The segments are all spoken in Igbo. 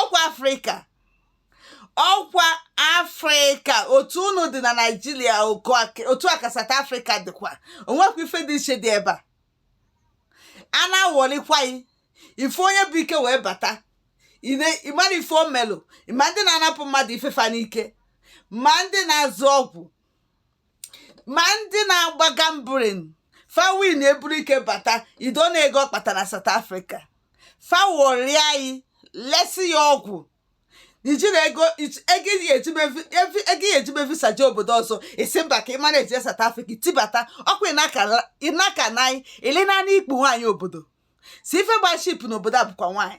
ọkwa afrịka ọkwa afrịka otu unu dị na naijiria otu a ka South Africa dịkwa o nwekwa ife dị iche dị ebe a a na-awọlikwa ya ife onye bu ike wee bata ị mara ife o melụ ma ndị na-anapụ mmadụ ife fa n'ike ma ndị na-azụ ọgwụ ma ndị na-agba gambling fa win e buru ike bata ido na ego ọ kpatara South Africa fa wọrịa anyị lesi ya ọgwụ i jiri ego ị ga-eji mee visa jee obodo ọzọ ị sị mba ka ị mana eje South Africa tibata ọkwa ịnaka na anyị ịlị naanị ikpu nwaanyị obodo sị ife gba cheap n'obodo a bụkwa nwaanyị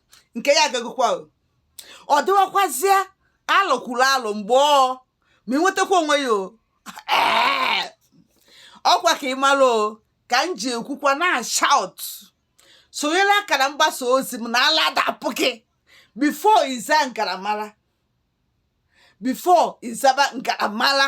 nke ya agagokwa ọ dịwakwazie alụ kwuru alụ mgbe ọ ma ịnwetakwa onwe ya o ọkwa ka ị mara o ka m ji ekwukwa na-ashout sonyela akara mgbasa ozi m na ala adapụ gị before ị za ngaramara before ị zaba ngaramara